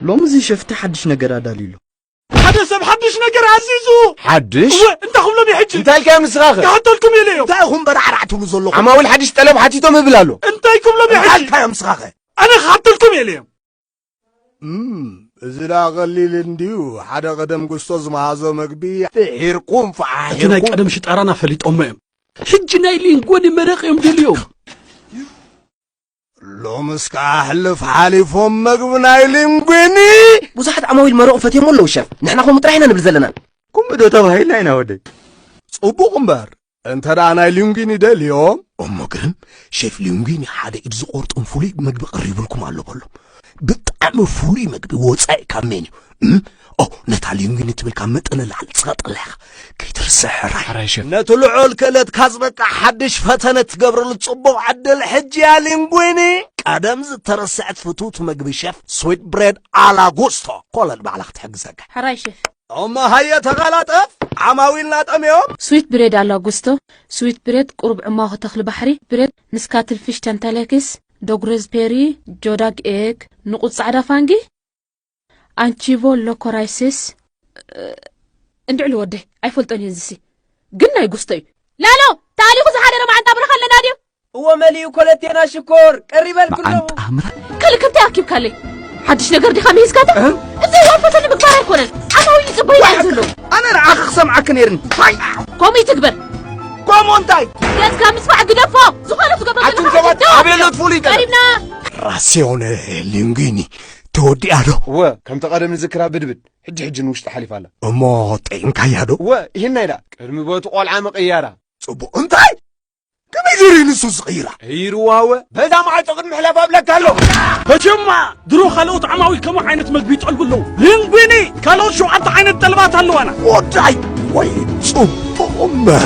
ሎሚ እዚ ሸፍቲ ሓድሽ ነገር ኣዳልዩ ኣሎ። ሓደ ሰብ ሓድሽ ነገር ኣዚዙ። ሓድሽ? እወ፣ እንታይ ክብሎም እየ ሕጂ? እንታይ ኢልካዮም ንስኻ ከ? ክሓተልኩም እየ ኢለዮም። እንታይ ኢኹም በራዕራዕ ትብሉ ዘለኹም? ዓማዊል ሓድሽ ጠለብ ሓቲቶም እብል ኣሎ። እንታይ ክብሎም እየ ሕጂ? እንታይ ኢልካዮም ንስኻ ከ? ኣነ ክሓተልኩም እየ ኢለዮም። እዚ ደኣ ቀሊል እንድዩ፣ ሓደ ቀደም ጉስጦ ዝመሃዞ መግቢ ፍሒርኩም ፈሓሒርኩም። እቲ ናይ ቀደም ሽጣራና ፈሊጦሞ እዮም። ሕጂ ናይ ሊንጎኒ መረቕ እዮም ደልዮም። ሎምስ ከኣ ሕልፍ ሓሊፎም መግቢ ናይ ሊንጒኒ ብዙሓት ዓማዊል መረቑ ፈትዮሞ ኣለዉ ሸፍ ንሕና ከምኡ ጥራሕ ኢና ንብል ዘለና ኩምዶ ተባሂልና ኢና ወደይ ጽቡቕ እምበር እንተ ደኣ ናይ ሊንጒኒ ደልዮም እሞ ግን ሸፍ ሊንጒኒ ሓደ ኢድ ዝቖርጥም ፍሉይ መግቢ ቀሪብልኩም ኣሎ በሎም ብጣዕሚ ፍሉይ መግቢ ወጻኢ ካብ ሜንዩ ኦ ነታ ሊንግኒ ትብል ካብ መጠን ላዕሊ ትሰጥላ ኢኻ ከይትርስዕ ሕራይ ሕራይ ሸፍ ነቲ ልዑል ክእለትካ ዝበቅዕ ሓድሽ ፈተነ ትገብረሉ ጽቡቕ ዕድል ሕጂ እያ ሊንጉኒ ቀደም ዝተረስዐት ፍትውቲ መግቢ ሸፍ ስዊት ብሬድ ኣላጉስቶ ኮለል ባዕላ ክትሕግዘካ ሕራይ ሸፍ እሞ ሃየ ተቐላጠፍ ዓማዊልና ጠምዮም ስዊት ብሬድ ኣላጉስቶ ስዊት ብሬድ ቁሩብ ዕማኹ ተኽሊ ባሕሪ ብሬድ ምስ ካትልፊሽ ተንተለኪስ ዶግረዝ ፔሪ ጆዳግ ኤግ ንቑጽ ጻዕዳ ፋንጊ ኣንቺቮ ሎኮራይሲስ እንድዕሉ ወደይ ኣይፈልጦን እየ እዚሲ ግን ናይ ጉስቶ እዩ ላሎ ታሊኹ ዝሓደረ መዓንጣ ብረኻ ኣለና ድዩ እዎ መሊኡ ኮለቴና ሽኮር ቀሪበል ክለኹ ካልእ ከምታይ ኣኪብካለይ ሓድሽ ነገር ዲኻ ምሂዝካታ እዚ ዋፈተ ንምግባር ኣይኮነን ዓማዊ ይፅበዩ ዩ ዘሎ ኣነ ንዓኺ ክሰምዓኪ ነይርኒ ከምኡ ይትግበር ከምኡ እንታይ ገዝካ ምስፋዕ ግደፎ ዝኾነ ትገብሮ ኣቱም ሰባት ኣበየሎት ፍሉይ ቀሪብና ራሲዮነ ሊንጉኒ ተወዲኣ ዶ? እወ፣ ከምቲ ቀደም ንዝክራ ብድብድ፣ ሕጂ ሕጂ ንውሽጢ ሓሊፋ ኣላ። እሞ ጠዒምካያ ዶ? እወ፣ ሂናይ ደኣ ቅድሚ ቦቲ ቆልዓ ምቕያራ። ጽቡቕ፣ እንታይ? ከመይ ጌሩ ንሱ ዝቕይራ? ቀይርዋ እወ፣ በዛ መዓጾ ቅድሚ ምሕላፍ ኣብለካ ኣለኹ። በጀማ ድሮ ካልኦት ዓማዊል ከምኡ ዓይነት መግቢ ይጠልቡ ኣለዉ። ሊንጉኒ ካልኦት ሸውዓተ ዓይነት ጠለባት ኣለዋና። ወዳይ ወይ ጽቡቕ እምበር